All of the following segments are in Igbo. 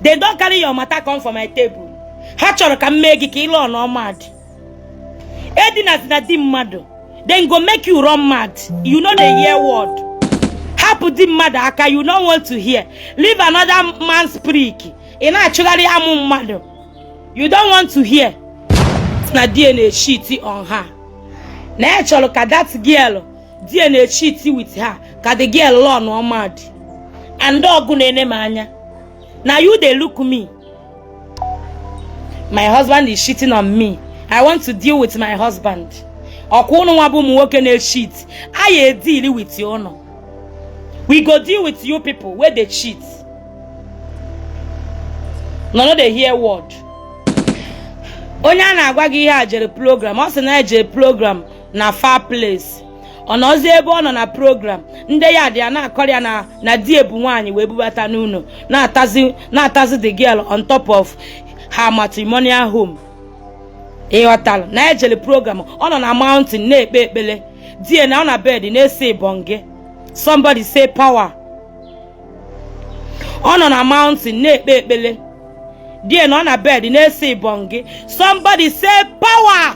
they don carry your matter come for my table ha chọrọ ka m mee gị ka ị run mad edinazina di mmadụ them go make you run mad you no dey hear word hapụ di mmadụ aka you no want to hear leave another man's prick ị na-achụgharị amụ mmadụ you don't want to hear na di ya na-echiti on her na ya chọrọ ka that girl di ya na-echiti with her ka the girl run mad and ọ gị na-ene m anya na you dey look me my husband is cheating on me i want to deal with my husband ọkwa ụnụ nwa bụ ụmụ nwoke na-echit anyị edili with ụnụ we go deal with you people wey dey cheat una no dey hear word onye a na-agwa gị ihe a jere program ọ sị na e jere program na far place ọ nọzi ebe ọ nọ na program ndị yard ya na-akọrọ ya na di ya bu nwaanyị wee bubata n'ụlọ na-atazi the girl on top of her matrimonial home ị ghọtara na e jele program ọ nọ na mountain na-ekpe ekpele di ya na-anọ na bed na-ese ibonge somebody say power ọ nọ na mountain na-ekpe ekpele di ya na-anọ na bed na-ese ibonge somebody say power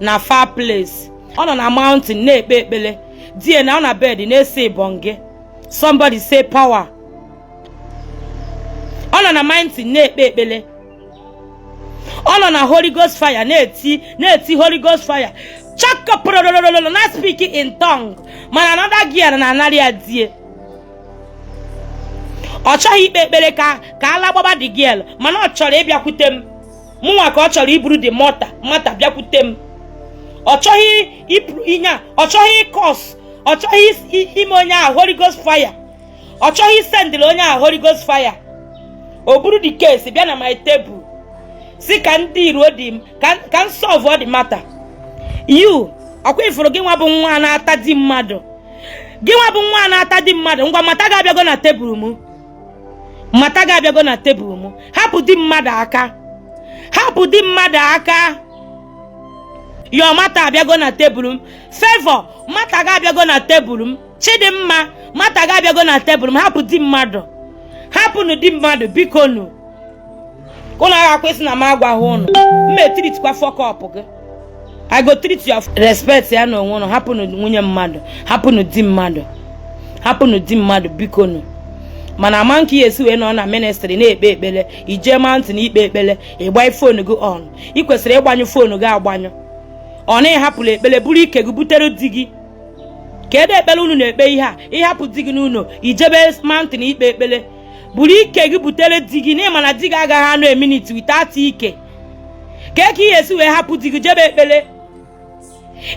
na far place ọ nọ na mountain na-ekpe ekpele di ya na-anọ na bed na-ese ibonge somebody say power ọ nọ na mountain na-ekpe ekpele ọ nọ na holy ghost fire na-eti holy ghost fire chakapụrụrụrụrụ na-aspeak in tongue mana another girl na-anarị ya di ya ọ chọghị ikpe ekpere ka ala gbaba the girl mana ọ chọrọ ịbịakwute m mụnwa ka ọ chọrọ iburu dị mata bịakwute m ọ chọghị iburu ihe a ọ chọghị ịkọs ọ chọghị ime onye ahụ Holy Ghost fire ọ chọghị ịsendịrị onye ahụ Holy Ghost fire o buru dị kesi bịa na my tebụl sị ka ndị iro di m ka m sọlvụọ dị mata yu ọkwa ị furu gị nwa bụ nwa na-ata di mmadụ gị nwa bụ nwa na-ata di mmadụ ngwa mata gị abịago na tebụl m mata gị abịago na tebụl m hapụ di mmadụ aka hapụ di mmadụ aka your mata abịago na tebụl m favour mata gị abịago na tebụl m chidimma mata gị abịago na tebụl m hapụ di mmadụ hapụnụ di mmadụ biko nụ unu agakwa sị na m agwaghị unu m etiritikwa fọkọpụ gị I go treat you respectịanụ onwe unu hapụnụ nwunye mmadụ hapụnụ di mmadụ hapụnụ di mmadụ biko nụ mana ama nke ị ya-esi wee nọ na ministri na-ekpe ekpere i je mountain ikpe ekpere ị gbanye fonu gị on ị kwesịrị ịgbanyụ fonu gị agbanyụ ọ na ị hapụla ekpere buru ike gị butere di gị kedụ ekpere unu na-ekpe ihe a ị hapụ di gị n'ụlọ i jebe mountain ikpe ekpere buru ike gị butere di gị n'ịma na di gị agaghị anọ a minute without ike kee ka ị ya esi wee hapụ di gị jebe ekpele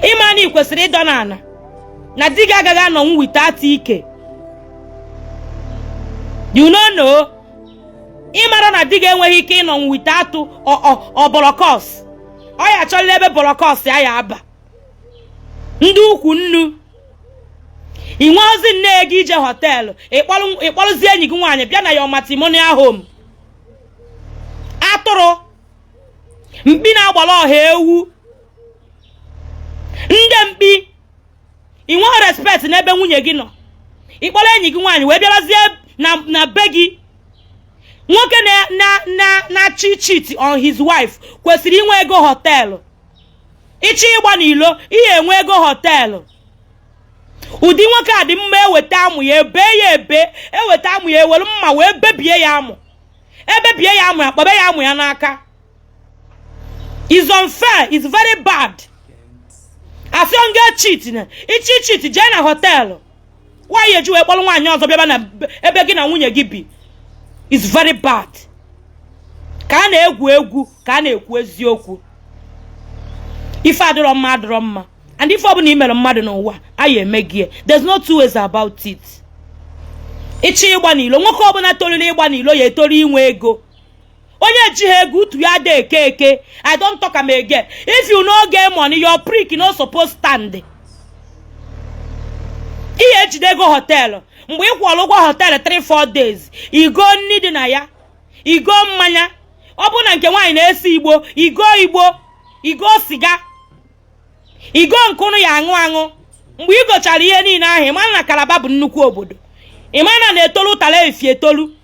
ịma na ị kwesịrị ịdọ n'ala na di gị agaghị anọnwu without ike you no know ịmara na di gị enweghị ike ịnọnwu without ọbọrọkọs ọ ya achọla ebe bọrọkọs ya ya aba ndị ukwu nnu ị nweozi ego ije họteelụ ịkpọrọ- ịkpọrọzie enyi gị nwaanyị bịa na your matrimonial home atụrụ mkpi na-agbara ọha ewu ndị mkpi ị nweghị respect n'ebe nwunye gị nọ ịkpọrọ enyi gị nwaanyị wee bịarazie na na be gị nwoke na na na na-achọ ịcheat on his wife kwesịrị inwe ego họteelụ ịchọ ịgba n'ilo ị ya enwe ego họteelụ ụdị nwoke a dị mma eweta amụ ya ebe ya ebe eweta amụ ya ewere mma wee bebie ya amụ ebebie ya amụ ya kpọbe ya amụ ya n'aka is unfair is very bad asịọ ngị echeatna ịchọ ịcheat jee na họteelụ why iji wee kpọrọ nwaanyị ọzọ bịaba na ebe gị na nwunye gị bi is very bad ka a na-egwu egwu ka a na-ekwu eziokwu ife adịrọ mma adịrọ mma and ife ọbụla i mere mmadụ n'ụwa a ya emegie there's no two ways about it ịchọ ịgba n'ilo nwoke ọbụla toruru ịgba n'ilo ya etoru inwe ego onye jiha ego utu ya adị eke eke i don talk am again if you no get money your prick no suppose stand ị ya ejide ego họteelụ mgbe ị kwụrụ ụgwọ họteelụ 3-4 days igo nri dị na ya igo mmanya ọ bụrụ na nke nwaanyị na-ese igbo igo igbo igo siga igo nke ụnụ ya aṅụ aṅụ mgbe ị gochara ihe niile ahụ ịmana na calabar bụ nnukwu obodo ịmana na-etolu ụtara efi etolu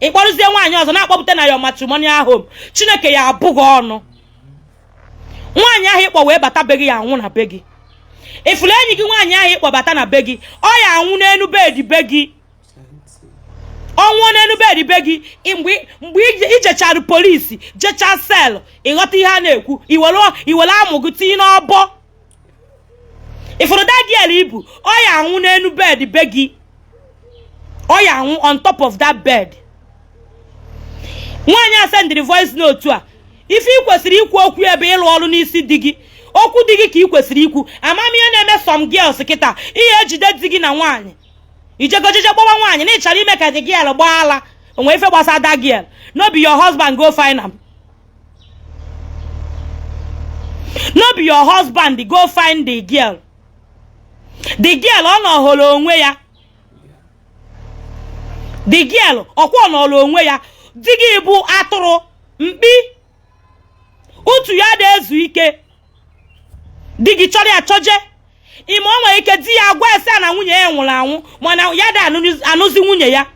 ị kpọrụzie nwaanyị ọzọ na-akpọpụta na your matrimonial home chineke ya abụ gị ọnụ nwaanyị ahụ ịkpọ wee bata be gị ya anwụ na be gị ifuru enyi gị nwaanyị ahụ ịkpọbata na be gị ọ ya anwụ n'elu bedi be gị ọ nwụọ n'elu bedi be gị mgbe ijechara police jechaa cell ịghọta ihe a na-ekwu iwere amụ gị tinye n'ọbọ ifuru that girl ibu ọ ya anwụ n'elu bed be gị ọ ya anwụ on top of that bed nwaanyị a sendịrị voice note a ife ị kwesịrị ikwu okwu ebe ịlụ ọrụ n'isi di gị okwu di gị ka ị kwesịrị ikwu ama m ihe na-eme some girls kịta ị ya ejide di gị na nwaanyị ijegojeje gbawa nwaanyị na ịchọrọ ime ka the girl gbaa ala onwero ife gbasa that girl no be your husband go find am no be your husband go find the girl the girl ọ nọhọrọ onwe ya the girl ọkwa ọ nọrọ onwe ya di gị bụ atụrụ mkpi utu ya ada ezu ike di gị chọrọ ya chọje ị ma o nwere ike di ya agwa ya sị na nwunye ya nwụrụ anwụ mana ya da anụzi nwunye ya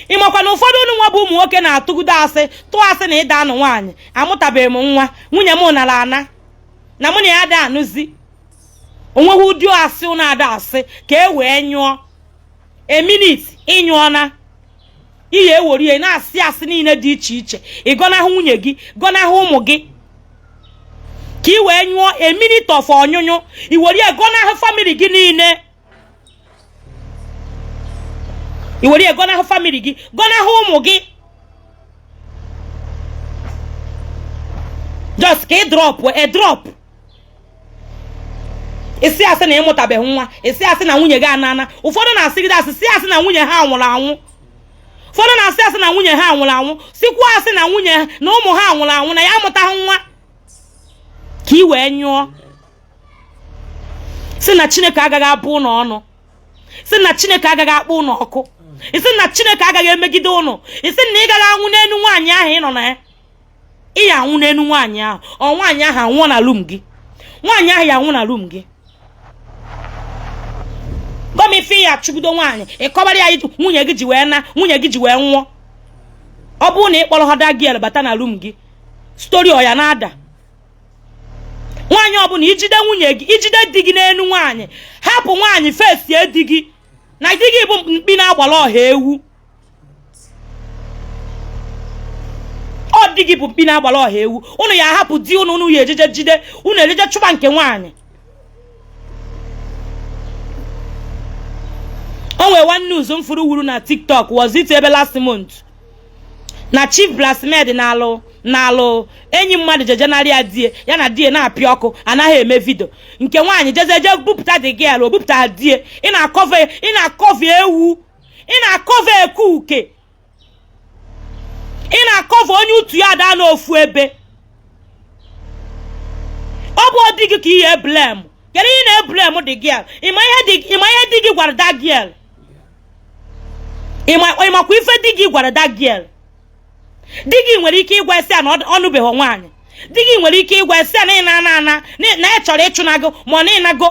ịmakwa na ụfọdụ ụnụ nwa bụ ụmụ nwoke na-atụgide asị tụọ asị na ịda anụ nwaanyị amụtabeghị m nwa nwunye m nara ana na mụ na ya da anụzi onweghị ụdị asị ụnụ ada asị ka e wee nyụọ a minute ịnyụọna ị ya ewere ya na-asị asị niile dị iche iche ị gọnahụ nwunye gị gọnahụ ụmụ gị ka ị wee nyụọ a minute of ọnyụnyụ i were ya gọnahụ family gị niile i were ya gọnahụ family gị gọnahụ ụmụ gị just ka ị drop a drop ị sị asị na ịmụtabeghị nwa ị sị asị na nwunye gị anana ụfọdụ na-asịgide asị si asị na nwunye ha nwụrụ anwụ ụfọdụ na-asị asị na nwunye ha nwụrụ anwụ sịkwa asị na nwunye na ụmụ ha nwụrụ anwụ na ya amụtaghị nwa ka ị wee nyụọ ị sị na chineke agaghị abụ ụnụ ọnụ ị sị na chineke agaghị akpọ ụnụ ọkụ ị sị na chineke agaghị emegide ụnụ ị sị na ị gaghị anwụ n'elu nwaanyị ahụ ị nọ na ya ị ya anwụ n'elu nwaanyị ahụ or nwaanyị ahụ anwụọ na room gị nwaanyị ahụ ya anwụ na room gị gwa m ife ya chụgido nwaanyị ịkọbara ya ihe nwunye gị ji wee na nwunye gị ji wee nwụọ ọ bụrụ na ị kpọrọhọ that girl bata na room gị story ọ ya na-ada nwaanyị ọbụla ijide nwunye gị ijide di gị n'elu nwaanyị hapụ nwaanyị fesie di gị na di gị bụ mkpi na-agbara ọha ewu ọ di gị bụ mkpi na-agbara ọha ewu ụnụ ya ahapụ di ụnụ ụnụ ya ejeje jide ụnụ ejeje chụba nke nwaanyị o nwere one news m fụrụ wuru na tiktok was it ebe last month na chief bridesmaid na-alụ na-alụ enyi mmadụ jeje narị ya di ya ya na di ya na-apịa ọkụ anaghị eme video nke nwaanyị jezie je bupụta the girl o bupụta di ya ị na-acover ị na-acover ewu ị na-acover ekuke ị na-acover onye utu ya da anọ ofu ebe ọ bụhọ di gị ka ị ya eblame kedu ihe ị na-eblame the girl ịma ihe di gị gwara that girl ịmakwa ife di gị gwara that girl di gị nwere ike ịgwa ya sị na ọ nụbeghị nwaanyị di gị nwere ike ịgwa ya sị na ị na-ana ana na ya chọrọ ịchụna gị ma ọ na ị nago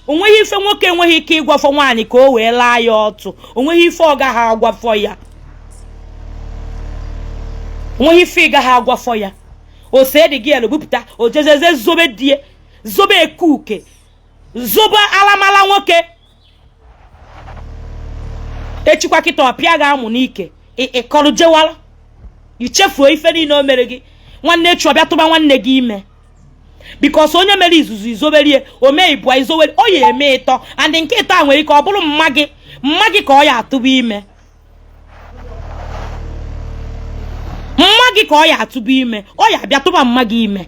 onweghị ife nwoke enweghị ike ịgwafọ nwaanyị ka o wee laa ya ọtụ onweghị ife ọ gaghị agwafọ ya onweghị ife ị gaghị agwafọ ya ose dị gị elu bupụta ojezeze zobe di e zobe ekuke zobe alamala nwoke echikwa kịta ọ pịa gị amụ n'ike ị kọrọ jewara i chefuo ife niile o mere gị nwanne echi ọ bịa tụba nwanne gị ime because onye mere izizi i zoberie o mee ibụa i zowere ọ ya-eme ịtọ and nke ịtọ a nwere ike ọ bụrụ mma gị mma gị ka ọ ya atụba ime mma gị ka ọ ya atụba ime ọ ya abịa tụba mma gị ime